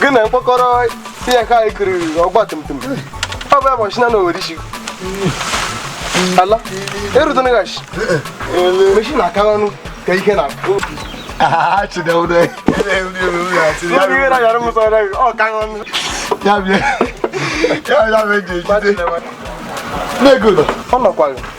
gị na mkpọkọrọ ihe ka anyị kiri ọgba tum tum ọgba machine na owere isi ala erutene gashi machine aka ọnụ ka ike na ya bịa ya bịa meji ejide na-egodo ọ nọkwaghị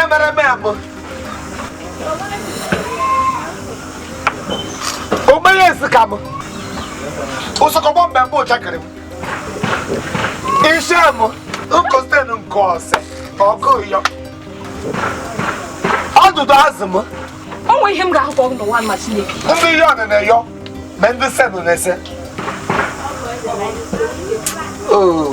emere m abụ ogbenye esi ka m ụsọkọgbọ mgbe mbụ ụchakịrị m isi m nkostenu nke ọsị ọkụ yọ ọdụdụ azụ m o nwere ihe m ga-ahụkọ n'ụwa mma Chineke ndị yọnụ na-ayọ ma ndị senụ na-ese Oh.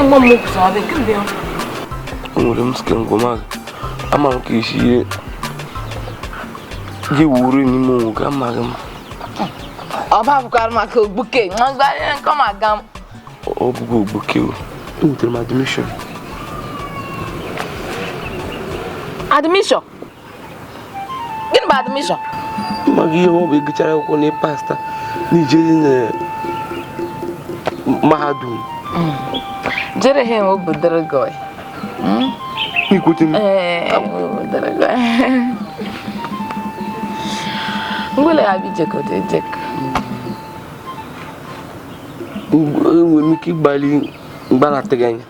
mgbe m kwụsị ọ dị nke mgbe ya enwere m sike ngwụmazụ ama m ka isi ihe gị wuru n'ime onwe gị amaghị m ọ babụkwara maka ogbuke ngwagharị nke ọ ma-aga m ọ bụghị ogbuke o enwetere m admission admission gịnị bụ admission ị maghị ihe ọ bụ ịgụchara akwụkwọ na pasta na ijeri na mahadum hmm. jere ha enwe obodoro gị ikwete m ngwele ya bi jekọta ejekọ enwere m ike ịgbali mgbanatịghị anya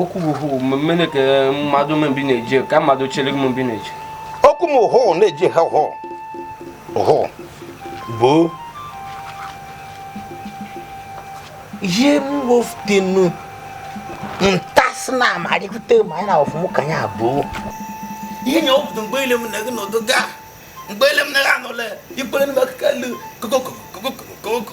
okwu m hụ mmemme ka mmadụ mbi na-eji ka mmadụ chere m mbi na-eji okwu m hụ na-eji ha hụ hụ bụ ihe mwoftenu ntasị na amalite ma anyị na ọfụmụ ka anyị abụọ ihe nye ọpụta mgbe ile mụ na gị nọdụga mgbe ile mụ na gị anọla ikpere m akụkọ elu kokokokokokoko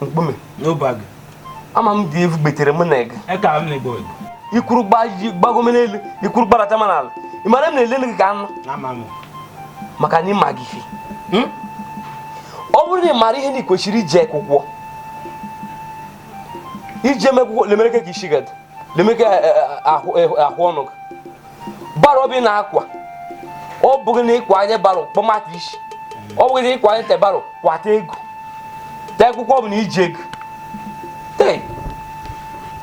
mkpume n'obago ama m dị evu gbetere mụ na ege eka m na-egbo i kwuru gbaji gbagome n'elu i kwuru gbadata ma n'ala ị mara m na-ele gị ka anụ maka na ị maghị ife ọ bụrụ na ị mara ihe na ị kwesịrị ije akwụkwọ ije m akwụkwọ lemere ka isi gị dị lemere ka eh, eh, eh, ahụ ọnụ gị barrow bụ ị na-akwa ọ bụghị na ịkwa anya barrow kpọmata isi ọ bụghị na ịkwa anya te barrow kwata ego te akwụkwọ bụ na iji ego te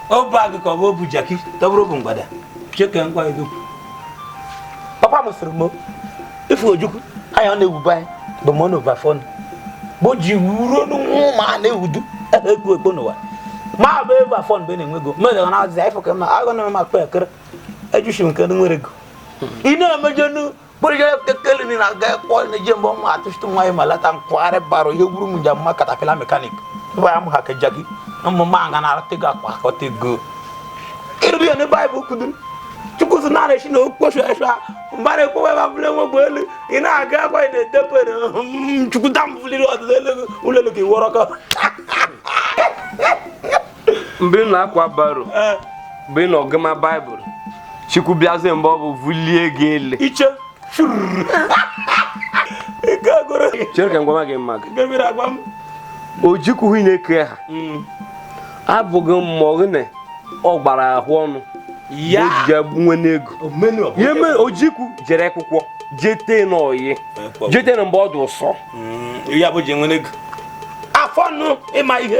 ọ bụ agụ ka ọ bụ ọ bụ jakị tọbụrụ bụ mgbada cheke ngwa ego papa m sịrị m ife Ojukwu anya ọ na-ewube anyị bụ mọ n'ova fọnụ bụ ji ruo n'ụmụ ma a na-ewudu ebe ekpo ekpo n'ụwa ma bụ ebe afọ mgbe na-enwego mmejọ na azịza ifo ka mma agụ na-eme ma kpe ekere ejusi nke ndị nwere ego ị na-emejenu kpụrụjere kekele na aga kpọ na-eje mgbe ọnwa atụchite nwa ya ma lata nkwagharị bara ihe gburu m njem mma katapila mekanik ebe ya m ha keja gị ụmụ m aga na-arata ego akpakọta ego ịrụrụ ya na baịbụl kwuduru chukwu si na esi na okposu esu ha mba na-ekpowe ebe ọbụla enwegwu elu ị na-aga akwa ị na-edebe chukwu dam buliri ọdịda elu ụlọ elu ka ị wọrọ ka mgbe ị na-akwa baro mgbe ị na-agụma baịbụl chukwu bịazie mgbe ọ bụ vulie gị elu iche chere ka m gwama gị mma gị Ojukwu hụ na-eke ha mm. abụghị mmụọ gị na ọ gbara ahụ ọnụ ya ojije nwe n'ego ya mere Ojukwu jere akwụkwọ jete n'oyi jete na mgbe ọ dị ụsọ mm, ya bụ ji nwe n'ego afọ nụ ịma ihe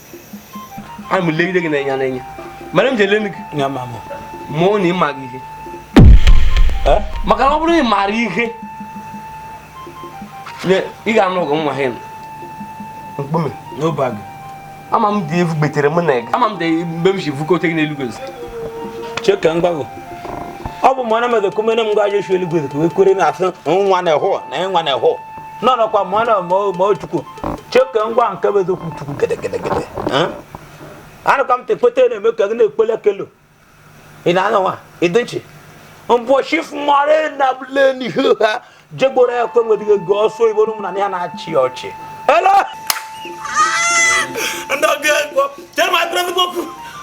ana m legide gị n'anya n'anya mere m ji ele gị ya ma mụ mụọ na ị maghị ihe maka na ọ bụrụ na ị maara ihe ị ga-anụ ọgụ nwa ha mkpume n'obi gị ama m dị evu gbetere mụ na gị ama m dị mgbe m si vukote gị n'eluigwe cheke m gwa gị ọ bụ mụ ana m edokomere m gwa Joshua eluigwe ka wee kwere na asị nwa na-ehụ na ịnwa na-ehụ nọ nọkwa mụ na ma o chukwu cheke m gwa nke bụ eziokwu chukwu gedegedegede anụka m tekweta na-eme ka gị na-ekpele kelo ị na-anọ nwa ịdị nchi mbọchị fụmara na bụle n'ihu ha jegboro ya kwe nwedịghị ego ọsọ igbo ụmụ na ya na-achị ọchị ele ndị ọbịa egwu jee ma ekpere okwu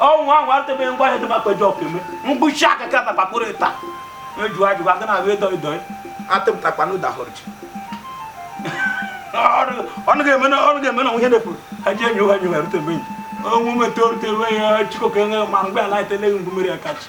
ọnwụ ahụ atụbeghị ngwa ahịa dị maka eji ọkụ eme mkpuchi aka ka na kpakpụrụ ịta eju ajụ aga na abịa ịdọ ịdọ atụpụtakwa na ụdahụrụ ji ọnụ ga-eme na ọnụ ga-eme na nwunye na-efu ha ji enyi ụgha nyi were tebe enyi onwe mete orute ruo ya chikoke nwe ma mgbe ala eteleghị ngwumere ya kachi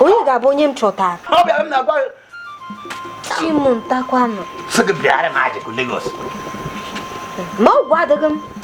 onye ga-abụ onye m chọtara chimuntakwanụ n'ọgwụ adịghị m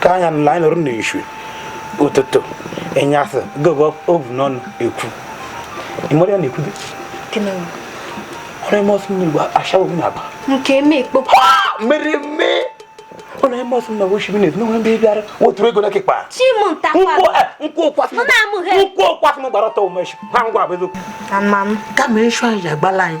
ka anya nla anyị nọrọ n'ishu ụtụtụ enyasị gogo ovu n'ọnụ ekwu ịmara ya na-ekwudo ọrụ eme ọsọ n'igbo ashawo m na-aba nke eme ekpo mere eme ọ na-eme ọsọ na woshi minet n'onwe mbe bịara woturu ego n'ekekpa nkwụ ụkwasị m gbara ọtọ ụmụ echi ha ngwa abụzụ kama echu anyị ji agbala anyị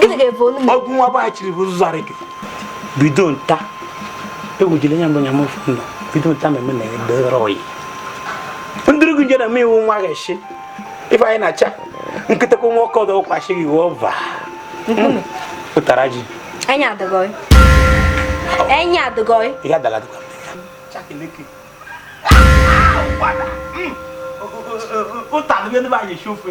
gịnị ga-efe onu m ọgwụ nwa gbaghachiri bụ ụzọ arị gị bido nta egwujile nya mgbe nya mụfụ nọ bido nta ma eme na edere oyi ndịrị gị nje na m iwu nwa ga-eshi ife anyị na-acha nkịta kwa nwa ọkọ ọdọ ụkwachi gị wee ọva pụtara ji anya adịgọị anya adịgọị ihe adala dịkwa ụtalụ ebe anyị esi ofe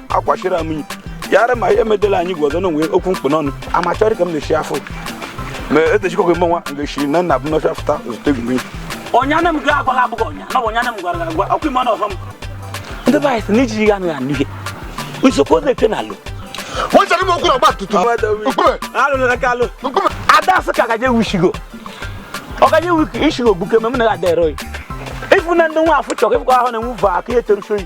akwachiri m yi ya ara ma ihe medela anyị gwa ọzọ na o nwe okwu m kpụ n'ọnụ amachọrị ka m na-eshi afọ ma etechikọghị mmanwa m ga-eshi na nna bụ n'ọcha fụta zụta egwu mmiri ọnyana m ga agwala abụghị ọnya na ọ bụ ọnyana m gwara gị agwa ọkwa ime ọnụ ọfọ m ndị be anyị sị na ijiji gị anaghị anụ ihe na-eso ozu eje na alụ wọ́n ṣe ní mo kúrò ọgba tumtum. Nkume alụ na aka alụ Nkume. ada asị ka gaje wushigo ọ gaje wiki ishigo gbuke mgbe m na-aga dero ifu na ndị nwa afụ chọrọ ịfụkọ ahụ na-enwu va aka ihe teruso yi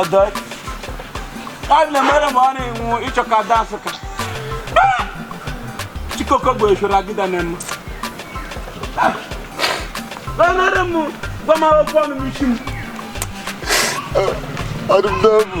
Ọdọ. Ọ na mere ma ọ na-enwu ịchọ ka ada asụ ka. Chikoko bụ eshoro agịda na emu. Ọ nara m gwa m akwụkwọ ọnụ m isi m. Ọdụm n'obu.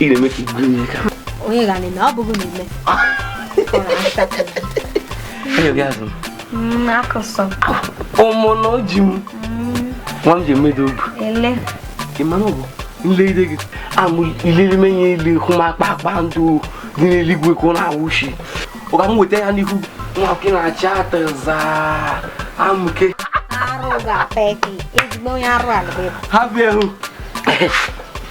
ị na-eme ka gịnị ka onye ga na-eme ọ bụghị na eme onye gị azụ m akụsọ ụmụ na oji m nwa m ji emedo obu ele ị mara ọ bụ nlegide gị amụ ilele menye ile hụ m kpakpando dị n'eluigwe ka ọ na-awụshi ọ ka m weta ya n'ihu nwa gị na-achị atịza amụke arụ ga-apa eke ezigbo onye arụ ala bụ ịbụ ha bịa hụ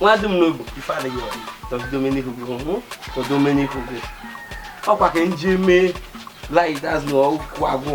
nwa dị m n'obi ife adịghị tọzidomenihu gị hụ tọzidomenihu gị ọkwa ka m je mee light as na ọkụ agwụ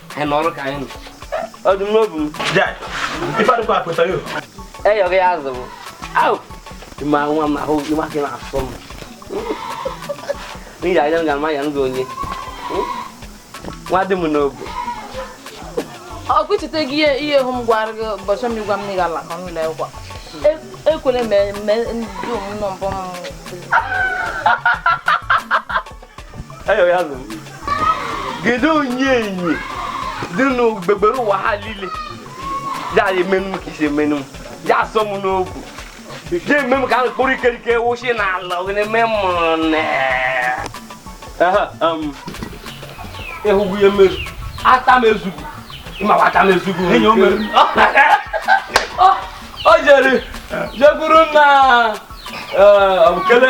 anyị nọrọ ka anyị nọ ọdụm n'obu m Jai, ife adịkwa akpụta yo. eyọghị ya azụ bụ au ịma nwa m ahụ ịma gị na-asọ m n'ihi anya m ga-ama ya m gị onye nwa dị m n'obu ọkwa ị cheta gị ihe ihe hụ m gwara gị ụbọchị m gwa m na ị ga-ala ka n'ụlọ akwụkwọ ekwere mee ndị omume mbụ m kedu onye enyi dị n'ogbegbere ụwa ha niile ya emenu m ka isi emenu m ya asọ m n'obu ya eme m ka a kpụrụ ikerike wụchi n'ala na-eme m ịhụgwu ihe mezu ata m ezugu ịmawa ata m ezugu o jere jekwuru nna kele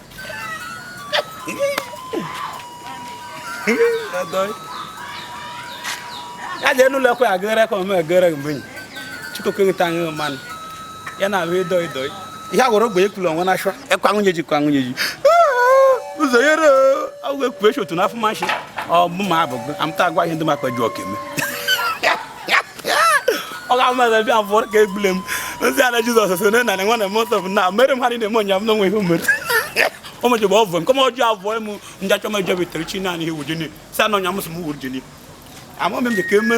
ya jee n'ụlọ ekwe agịrị ekwe ma egere mgbe chukwu nkịta anyị mmanụ ya na-abụ ịdọ ịdọ ihe a gwara ogbe ekwula onwe n'ashwa ekwa nwunye ji kwa nwunye ji ụzọ yere agwụ ekwu echi otu n'afọ mashi ọ bụ ma abụgo amụta agwa ihe ndị makwa ji ọka eme ọ ga ama ebe bịa fụrụ ka egbule m ndị ala jizọs so na nanị nwana m ọsọ m na mere m ha niile m ụnyaahụ na o nwe ihe o mere o mejọba ọvụ m kọma ọjọọ avụọ m ndị achọ m ejọba itere chi naanị ihe wujini si anọ nya m sị m wuru jini ama m ka eme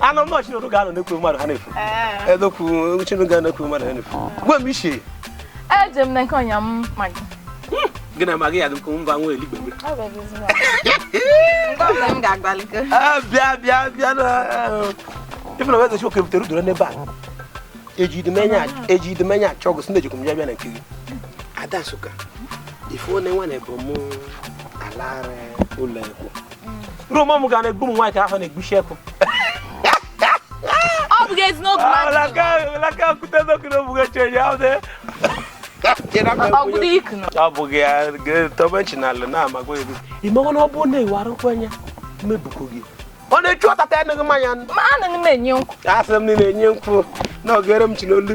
anọ m chinụrụ ga-anọ na-ekwu mmadụ ha na-ekwu edokwu chinụrụ ga na-ekwu mmadụ ha na-ekwu gwa m ichie eje m na nke ọnya m magị gị na magị ya dị nkụ mba nwa eligbe bịa bịa bịa na ifena wee zechi oke butere udoro n'ebe a eji idemenya achọ ọgụ sị na ejikwa m ya bịa na nke gị ada nsụka ife one nwa na ebo m alara ụlọ ekwu roma m ga na-egbu m nwaanyị ka afọ na-egbuchi ekụ ọ bụghị ezi n'otu ọ bụghị ya tobe chinalụ na-amagwa egwu ị mawa na ọ bụrụ na ị wara nkwa anya mebukwu gị ọ na-echu ọtata ya ṅụghị mmanya asị m na na-enye nkwụ na ogere m chi n'olu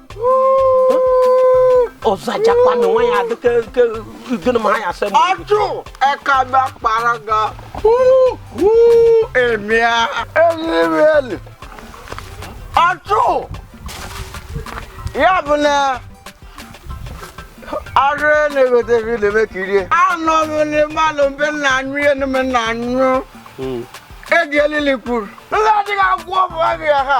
ọzọ ajakwa na nwa ya adịka ike gịnị ma ha ya asị m ọjụ ekaba kpara ga emia elimeli ọjụ ya bụ na arụ na-egote ebe na-eme ka irie anọ m n'ịmalụ mbe nna anyụ ihe na mbe nna anyụ ego elili kwuru ndị adịghị agwọ bụ abịa ha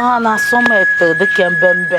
a na-asọ m ete dịka mbembe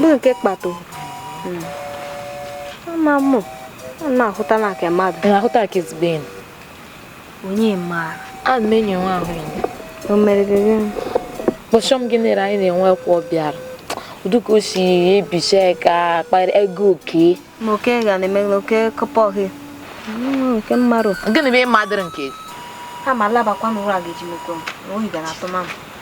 bụ nke kpato hmm. ama m na-ahụta na nke mmadụ na-ahụta nke ezigbo enyi onye maara ana m enyi nwa ahụ enyi o mere gị gịnị kpọchọ m gị nere anyị na-enwe kwa ọ bịara uduka o si ebicha ka kpara ego oke ma oke ga na-eme oke kọpọ gị nke mmadụ gịnị bụ ịma dịrị nke ama alabakwa n'ụra ga-eji mekwa m oyi ga na-atụ mamụ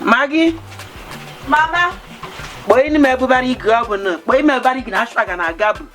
Maggie. Mama. Kpọọ ime ebubara ike ọ bụ na kpọọ ime ebubara ike na asụ aga na aga bụ.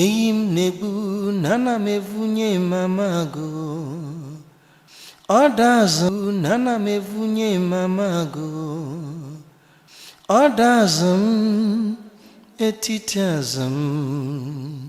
eyi m na-egbu na ana m evunye mama agụ ọ da azụ m na ana m evunye mama agụ ọ da azụ m etiti azụ m